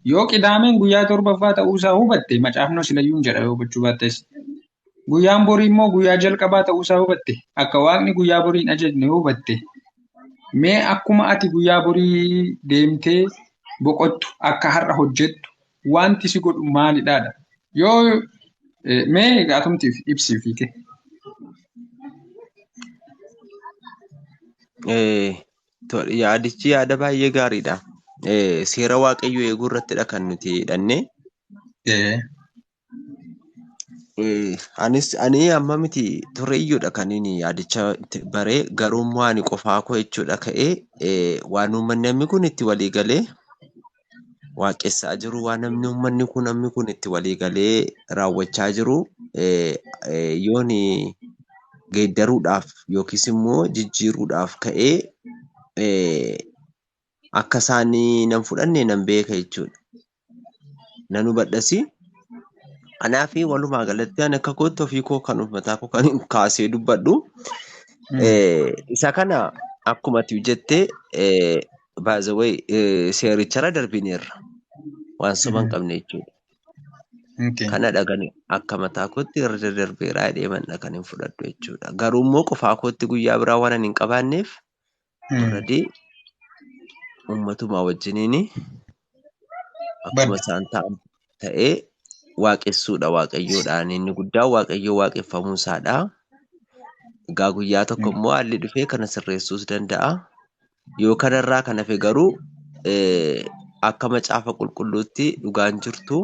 Yoo qidaameen guyyaa torbaffaa ta'uusaa hubatte macaafnoo silayyuu hin jedha yoo hubachuu baattes. Guyyaan borii immoo guyyaa jalqabaa ta'uusaa hubatte akka waaqni guyyaa borii hin ajajne yoo hubatte mee akkuma ati guyyaa borii deemtee boqottu akka har'a hojjettu wanti si godhu maalidhaadha yoo eh, mee gaatumtiif ibsiif hiike. Eh, Tole, Yaadichi yaada baay'ee gaariidha. Eh, Seera Waaqayyoo eeguu irrattidha kan nuti hidhanne. Ee, Eh, Anis ani amma miti ture iyyuudha kan inni yaadicha itti baree garuu immoo ani qofaa koo jechuudha ka'ee eh, waan uummanni namni kun itti walii galee waaqessaa jiru waan namni ummanni kun namni kun itti walii galee raawwachaa jiru yoon geeddaruudhaaf yookiis immoo jijjiiruudhaaf ka'ee akka isaan nan fudhanne nan beeka jechuudha. Nan hubadhasi. Kanaaf walumaa galatti ani akka kootti ofii koo kan mataa koo kan kaasee dubbadhu. Isa kana akkuma ati jettee By the way, eh, seericharra darbineerra. Waan soba hin Mm. qabne jechuudha. Okay. Kana dhagani akka mataa kootti irra daddarbeeraa jedhee manna kan hin fudhadhu jechuudha. Garuu immoo qofaa kootti guyyaa biraa waan ani hin qabaanneef Mm. already ummatumaa wajjiniin akkuma isaan ta'an ta'ee waaqessuudha waaqayyoodhaan inni guddaan waaqayyoo waaqeffamuu isaadha. Egaa guyyaa tokko immoo haalli dhufee kana sirreessuus danda'a. Yoo kanarraa kan hafe garuu eh, akka macaafa qulqulluutti dhugaan jirtu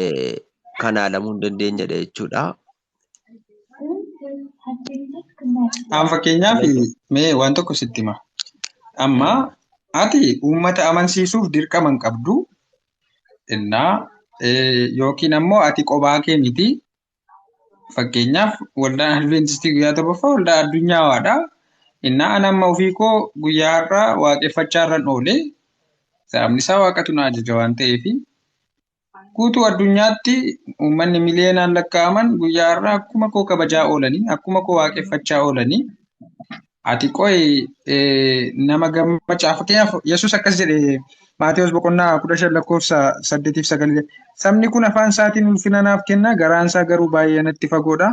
eh, kan haalamuu hin dandeenyedha jechuudha. Amma fakkeenyaaf mee waan tokko sitti hima. Amma ati uummata amansiisuuf dirqama hin qabdu. Innaa yookiin ammoo ati qobaa kee miti. Fakkeenyaaf waldaan Adventistii guyyaa torbaffaa waldaa addunyaadha. Innaa an amma ofii koo guyyaa har'aa waaqeffachaa irran oole sababni isaa waaqatu na ajaja waan ta'eef Guutuu addunyaatti uummanni miliyoonaan lakkaa'aman guyyaa har'aa akkuma koo kabajaa oolanii akkuma koo waaqeffachaa oolanii ati qoy nama gammachaa fakkeenyaaf Yesuus akkas jedhe Maatewos boqonnaa kudha shan lakkoofsa saddeetiif sagalee sabni kun afaan isaatiin ulfina naaf kenna garaan isaa garuu baay'ee natti fagoodha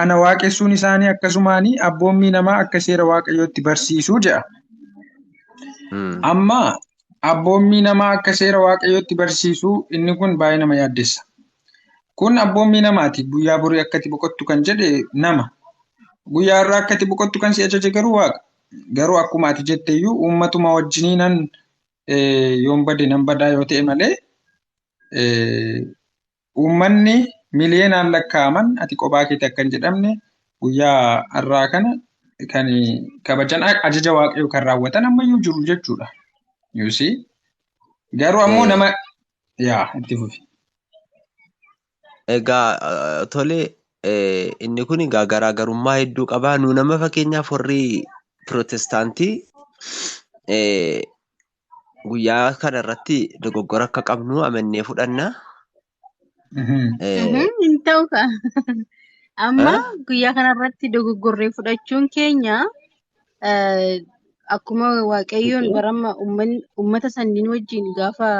ana waaqessuun isaanii akkasumaan abboommii namaa akka seera waaqayyootti barsiisuu jedha. Amma abboommii namaa akka seera waaqayyootti barsiisuu inni kun baay'ee nama yaaddessa. Kun abboommii namaati. Guyyaa borii akka itti boqottu kan jedhe nama. Guyyaa irraa akka itti boqottu kan si ajaje garuu waaqa. Garuu akkuma ati jette iyyuu uummatuma wajjiniinan yoon bade nan badaa yoo ta'e malee Uummanni miliyoonaan lakkaa'aman ati qophaa keeti akka hin jedhamne guyyaa har'aa kana kan kabajan ajaja waaqayyoo kan raawwatan ammayyuu jiru jechuudha. You see? Garuu ammoo Eh. nama yaa itti fufi. Egaa eh, tole eh, inni kun egaa garaagarummaa hedduu qaba. Nu nama fakkeenyaaf warri pirootestaantii eh, guyyaa kana irratti dogoggora akka qabnu amannee fudhanna. Mhm. Eh, Mhm, Hin ta'u ka. Amma eh, guyyaa kanarratti dogoggorree fudhachuun keenya eh, akkuma Waaqayyoon Waaqayyo. baramma umman- ummata sanniin wajjin gaafa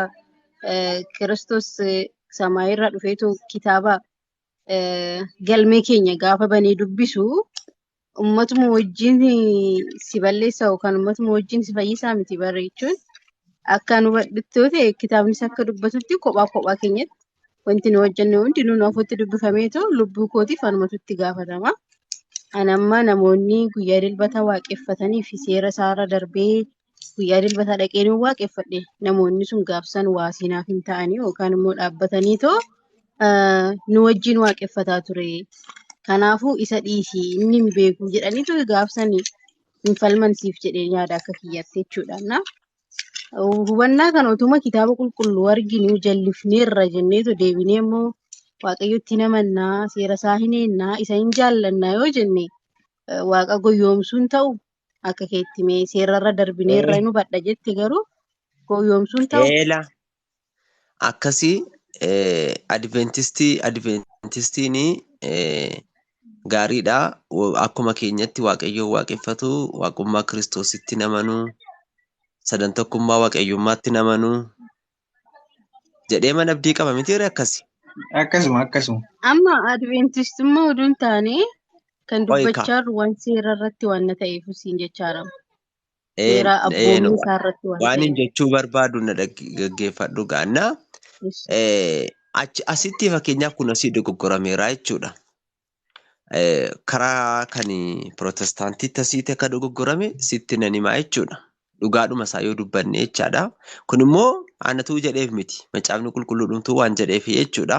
eh, Kiristoos eh, samaayirraa dhufeetu kitaaba galmee keenya gaafa banee dubbisu ummatuma wajjin si balleessa yookaan ummatuma wajjin si fayyisaa miti barri jechuun akka nu hubadhutti yoo ta'e kitaabnis akka dubbatutti kophaa kophaa keenyatti wanti nu hojjenne hundi nuun ofitti dubbifamee ta'u lubbuu kootiif anumatu itti gaafatama. An amma namoonni guyyaa dilbata waaqeffatanii fi seera isaarra darbee Guyyaa dilbataa dhaqee nan waaqeffadhe. Namoonni sun gaafsan waasii naaf hin ta'anii yookaan immoo dhaabbatanii too nu wajjin waaqeffataa ture. Kanaafuu isa dhiisi inni hin beeku jedhanii too gaafsan hin falman siif jedhee yaada akka kiyyaatti jechuudha. Hubannaa kana utuma kitaaba qulqulluu arginuu jallifneerra jenneetu deebinee immoo waaqayyotti namannaa seera isaa hin eennaa isa hin jaallannaa yoo jenne waaqa goyyoomsuun ta'u Akka keetti mee seerarra darbineerra Eh, hin hubadha jette garuu gooyyoomsuun ta'u eela akkasii eh, adventistii adventistiin eh, gaariidha Wa- akkuma keenyatti waaqayyoon waaqeffatu waaqummaa kiristoositti namanuu sadan tokkummaa waaqayyummaatti namanuu jedhee mana abdii qaba miti ree akkasi. Akkasuma akkasuma. Amma adventistummaa oduu hin taane kan Oi, ka- dubbachaa jiru waan seera irratti waan na ta'eef siin jechaa jira. Ee, Seera ee, abboommii nu- isaa irratti waan waan hin ta'eef. jechuu barbaadu na dhag- gaggeeffadhu gaannaa. Yes. Eh, achi asitti fakkeenyaaf kun asii dogoggorameera jechuudha. Eh, karaa kan pirootestaantii tasiite akka dogoggorame sitti nan himaa jechuudha. Dhugaadhuma isaa yoo dubbanne jechaadha. Kun immoo anatuu jedheef miti. Macaafni qulqulluudhumtuu waan jedheef jechuudha.